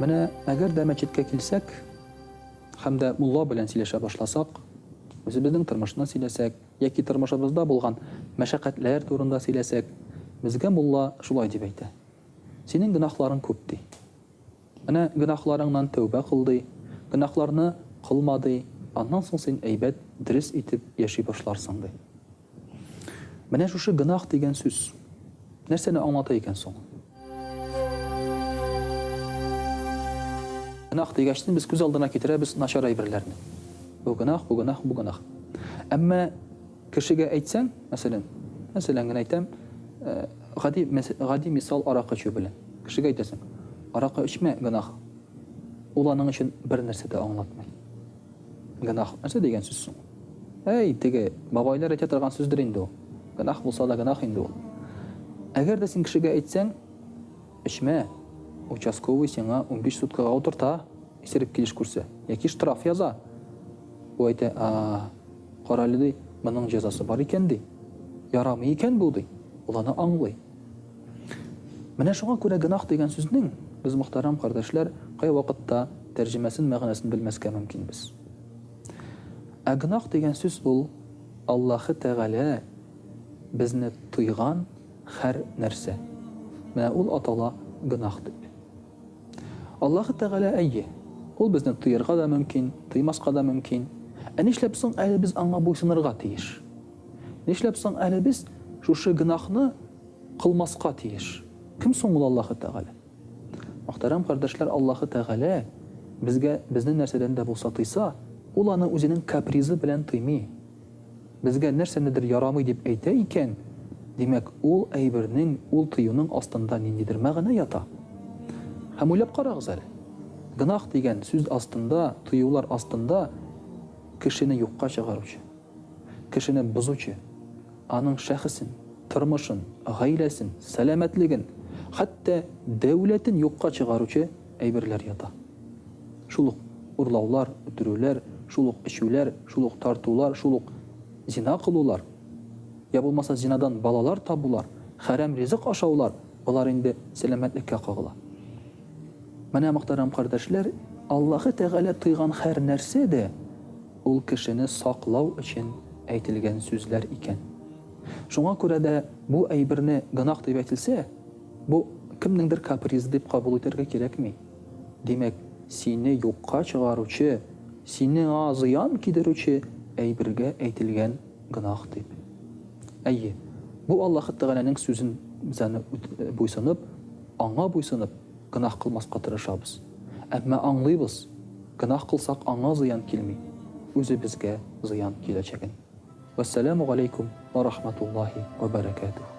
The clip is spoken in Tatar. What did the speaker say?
Менә әгәр дә мәчеткә килсәк һәм дә мулла белән сөйләшә башласак, үзебезнең тормышны сөйләсәк, яки тормышыбызда булган мәшәкатьләр турында сөйләсәк, безгә мулла шулай дип әйтә, Синең гөнаһларың күп, ди. Менә гөнаһларыңнан тәүбә кыл, ди, гөнаһларны кылма, ди, аннан соң син әйбәт, дөрес итеп яши башларсың, ди. Менә шушы гөнаһ дигән сүз нәрсәне аңлата икән соң? Гөнаһ дигәч, без күз алдына китерәбез начар әйберләрне. Бу гөнаһ, бу гөнаһ, бу гөнаһ. Әмма кешегә әйтсәң, мәсәлән, мәсәлән генә әйтәм, э, гади гади мисал аракы эчү белән. Кешегә әйтәсең, аракы эчмә, гөнаһ. Ул аның өчен бер нәрсә дә аңлатмый. Гөнаһ нәрсә дигән сүз соң? Әй, теге бабайлар әйтә торган сүздер инде ул. Гөнаһ булса да гөнаһ инде ул. Әгәр дә син кешегә әйтсәң, эчмә, участковый сиңа унбиш суткага утырта, исерек килеш күрсә, яки штраф яза. Бу әйтә, а, карале, ди, моның җәзасы бар икән, ди. Ярамый икән бу, ди. Ул аны аңлый. Менә шуңа күрә гөнаһ дигән сүзнең, без, мөхтәрәм кардәшләр, кайвакытта тәрҗемәсен, мәгънәсен белмәскә мөмкинбез. Ә гөнаһ дигән сүз ул, Аллаһы Тәгалә безне тыйган хәр нәрсә. Менә ул атала гөнаһ дип. Аллаһы Тәгалә, әйе, Ул безне тыярга да мөмкин, тыймаска да мөмкин. Ә нишләп соң әле без Аңа буйсынырга тиеш? Нишләп соң әле без шушы гөнаһны кылмаска тиеш? Кем соң ул Аллаһы Тәгалә? Мөхтәрәм кардәшләр, Аллаһы Тәгалә безгә безне нәрсәдән дә булса тыйса, ул аны үзенең капризы белән тыймый. Безгә нәрсәнедер ярамый дип әйтә икән, димәк, ул әйбернең, ул тыюның астында ниндидер мәгънә ята. Һәм уйлап карагыз әле, гөнаһ дигән сүз астында, тыюлар астында кешене юкка чыгаручы, Кешене бозучы, аның шәхесен, тормышын, гаиләсен, сәламәтлеген, хәтта дәүләтен юкка чыгаручы әйберләр ята. Шул ук урлаулар, үтерүләр, шул ук эчүләр, шул ук тартулар, шул ук зина кылулар, йә булмаса зинадан балалар табулар, хәрәм ризык ашаулар, болар инде сәламәтлеккә кагыла. Менә, мөхтәрәм кардәшләр, Аллаһы Тәгалә тыйган хәр нәрсә дә Ул кешене саклау өчен әйтелгән сүзләр икән. Шуңа күрә дә бу әйберне гөнаһ дип әйтелсә, бу кемнеңдер капризы дип кабул итәргә кирәкми. Димәк, сине юкка чыгаручы, сиңа зыян кидерүче әйбергә әйтелгән гөнаһ дип. Әйе, бу Аллаһы Тәгаләнең сүзен буйсынып, Аңа буйсынып, Гөнаһ кылмаска тырышабыз. Әмма аңлыйбыз, гөнаһ кылсак аңа зыян килми, үзебезгә зыян киләчәген. Вәссәламү галәйкүм вә рахматуллаһи вә бәрәкәтүһ.